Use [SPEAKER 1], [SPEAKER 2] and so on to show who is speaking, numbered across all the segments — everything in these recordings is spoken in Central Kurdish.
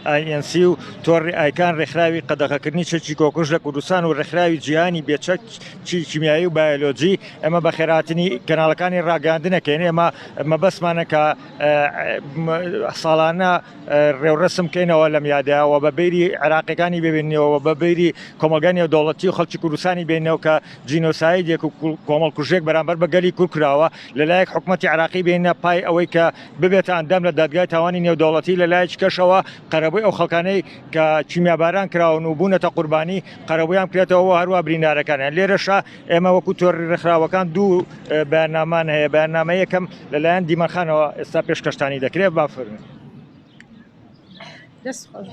[SPEAKER 1] INC و تۆڕی ئایکان ڕێکخراوی قەدەغەکردنی چەکی کۆکوش لە کوردستان و ڕێکخراوی جیهانی بێچەک چی کیمیایی و بایۆلۆجی ئەمە بە خێراتنی کەناڵەکانی ڕاگەاندنەکەین ئێمە مەبەسمانە کە ساڵانە ڕێوڕسم کەینەوە لەم یادەوە بە بیری عراقیەکانی ببینەوە بە بیری کۆمەلگانی و دەوڵەتی و خەڵکی کوردستانی بینەوە کە جینۆسایدێک و کۆمەڵ کوژێک بەرامبەر بە گەلی کورد کراوە لە لایەک حکومەتی عێراقی بێنە پای ئەوەی کە ببێتە ئەندام لە دادگای تاوانی نێودەوڵەتی لە لایەکی کەشەوە قەرەبووی ئەو خەڵکانەی کە کیمیاباران کراون و بوونەتە قوربانی قەرەبوویان بکرێتەوە و هەروە برینارەکانیان لێرەشە ئێمە وەکو تۆری ڕێکخراوەکان دوو بەیاننامان هەیە بەیاننامە یەکەم لەلایەن دیمەن خانەوە ئێستا پێشکەشتانی دەکرێت بافرمێ. دەست خۆش.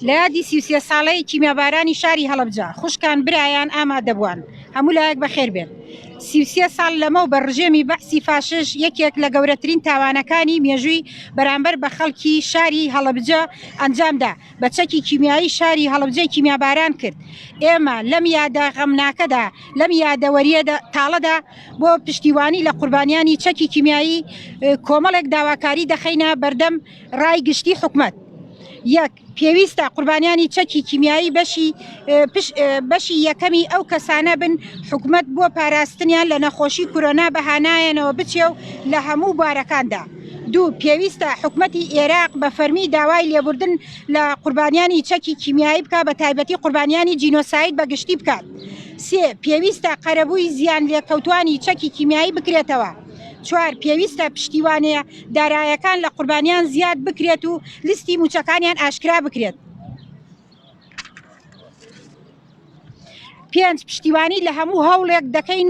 [SPEAKER 2] لە یادی سیوسیە ساڵەی کیمیابارانی شاری هەڵبجا خوشکان برایان ئامادەبووان هەموو لایەک بەخێر بێن سیوسیە ساڵ لەمە و بە ڕژێمی بەعسی فاشش یەکێک لە گەورەترین تاوانەکانی مێژووی بەرامبەر بە خەڵکی شاری هەڵبجە ئەنجامدا بە چەکی کیمیایی شاری هەڵەبجەی کیمیاباران کرد. ئێمە لەم یادە غەمناکەدا، لەم یادەوەرییە تاڵەدا بۆ پشتیوانی لە قوربانیانی چەکی کیمیایی کۆمەڵێک داواکاری دەخەینە بەردەم رای گشتی حکومەت. یەک، پێویستە قوربانیانی چەکی کیمیایی بەشی بەشی یەکەمی ئەو کەسانە بن حکومەت بۆ پاراستنیان لە نەخۆشی کورۆنا بە هانایانەوە بچێ و لە هەموو بوارەکاندا دوو، پێویستە حکومەتی ئێراق بە فەرمی داوای لێبوردن لە قوربانیانی چەکی کیمیایی بکات بە تایبەتی قوربانیانی جینۆساید بە گشتی بکات. سێ، پێویستە قەرەبووی زیان لێکەوتوانی چەکی کیمیایی بکرێتەوە. چوار، پێویستە پشتیوانێ دارایەکان لە قوربانیان زیاد بکرێت و لیستی مووچەکانیان ئاشکرا بکرێت. پێنج، پشتیوانی لە هەموو هەوڵێک دەکەین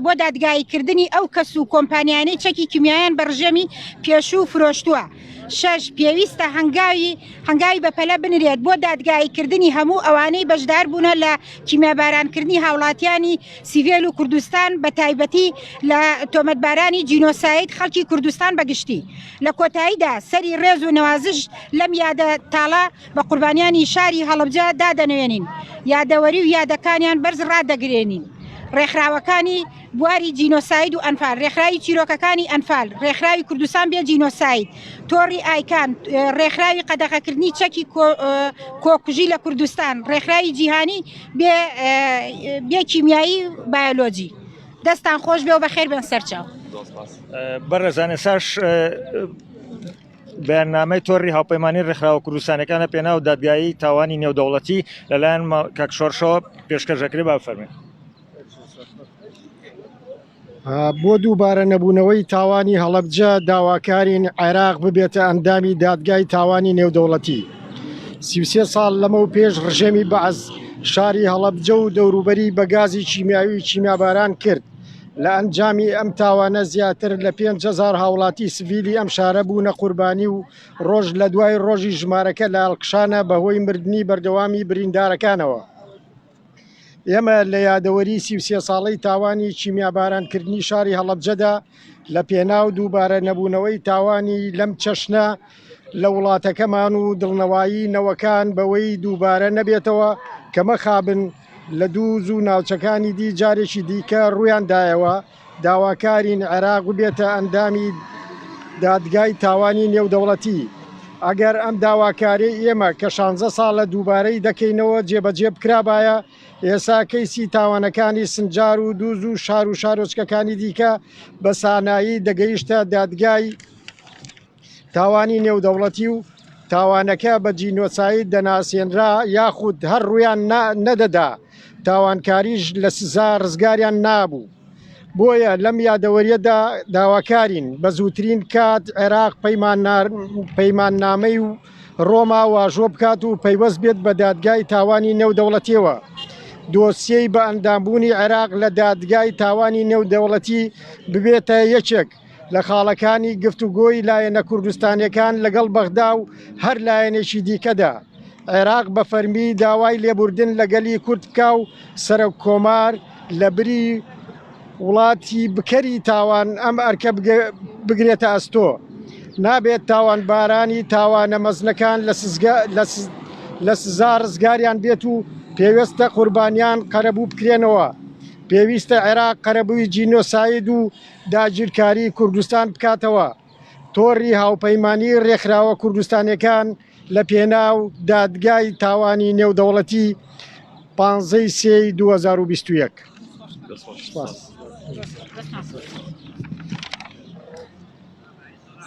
[SPEAKER 2] بۆ دادگاییکردنی ئەو کەس و کۆمپانیانەی چەکی کیمیایان بە ڕژێمی پێشوو فرۆشتووە. شەش، پێویستە هەنگاوی هەنگاوی بەپەلە بنرێت بۆ دادگاییکردنی هەموو ئەوانەی بەشدار بوونە لە کیمیابارانکردنی هاوڵاتیانی سیڤێل و کوردستان بە تایبەتی لە تۆمەتبارانی جینۆساید خەڵکی کوردستان بە گشتی. لە کۆتاییدا سەری ڕێز و نەوازش لەم یادە تاڵە بە قوربانیانی شاری هەڵەبجە دادەنەوێنین، یادەوەری و یادەکانیان بەرز ڕادەگرێنین. ڕێکخراوەکانی بواری جینۆساید و ئەنفال، ڕێکخراوی چیرۆکەکانی ئەنفال، ڕێکخراوی کوردستان بێ جینۆساید، تۆڕی ئایکان، ڕێکخراوی قەدەغەکردنی چەکی کۆکوژی لە کوردستان، ڕێکخراوی جیهانی بێ کیمیایی و بایۆلۆجی. دەستتان خۆش بێ و بەخێر بێن سەرچاو. بەڕێزان
[SPEAKER 1] ئێستاش. بەیاننامەی تۆڕی هاوپەیمانی ڕێکخراوە کوردستانەکان لە پێناو دادگایی تاوانی نێودەوڵەتی لەلایەن کاک شۆڕشەوە پێشکەش دەکرێت با بفەرمێن
[SPEAKER 3] بۆ دووبارە نەبوونەوەی تاوانی هەڵەبجە داواکارین عێراق ببێتە ئەندامی دادگای تاوانی نێودەوڵەتی سیوسێ ساڵ لەمە و پێش ڕژێمی بەعز شاری هەڵەبجە و دەوروبەری بە گازی کیمیاوی کیمیاباران کرد لە ئەنجامی ئەم تاوانە زیاتر لە پێنج هەزار هاوڵاتی سڤیلی ئەم شارە بوونە قوربانی و ڕۆژ لە دوای ڕۆژی ژمارەکە لە هەڵکشانە بەهۆی مردنی بەردەوامی بریندارەکانەوە. ئێمە لە یادەوەری سی و سێ ساڵەی تاوانی کیمیابارانکردنی شاری هەڵەبجەدا لە پێناو دووبارە نەبوونەوەی تاوانی لەم چەشنە لە وڵاتەکەمان و دڵنەوایی نەوەکان بەوەی دووبارە نەبێتەوە کە مەخابن لە دوو زوو ناوچەکانی دی جارێکی دیکە ڕوویان دایەوە، داواکارین عێراق ببێتە ئەندامی دادگای تاوانی نێودەوڵەتی، ئەگەر ئەم داواکاریەی ئێمە کە شانزە ساڵە دووبارەی دەکەینەوە جێبەجێ بکرابایە، ئێسا کەیسی تاوانەکانی سنجار و دوو زوو شار و شارۆچکەکانی دیکە بە سانایی دەگەیشتە دادگای. تاوانی نێودەوڵەتی و تاوانەکە بە جینۆساید دەناسێنرا یاخود هەر ڕوویان نەدەدا، تاوانکاریش لە سزا ڕزگاریان نابوو. بۆیە لەم یادەوەریەدا داواکارین بە زووترین کات عێراق پەیماننامەی و ڕۆما واژۆ بکات و پەیوەست بێت بە دادگای تاوانی نێودەوڵەتیەوە. دۆسیەی بەئەندامبوونی عێراق لە دادگای تاوانی نێودەوڵەتی ببێتە یەکێک لە خاڵەکانی گفتوگۆی لایەنە کوردستانیەکان لەگەڵ بەغدا و هەر لایەنێکی دیکەدا، عێراق بە فەرمی داوای لێبوردن لە گەلی کورد بکا و سەرۆک کۆمار لە بری وڵاتی بکەری تاوان ئەم ئەرکە بگرێتە ئەستۆ. نابێت تاوانبارانی تاوانە مەزنەکان لە سزا ڕزگاریان بێت و پێوێستە قوربانیان قەرەبوو بکرێنەوە. پێویستە عێراق قەرەبووی جینۆساید و داگیرکاری کوردستان بکاتەوە. تۆڕی هاوپەیمانیی ڕێکخراوە کوردستانییەکان لە پێناو دادگای تاوانی نێودەوڵەتی، پانزە ی سێ ی دوو هەزار و بیست و یەک.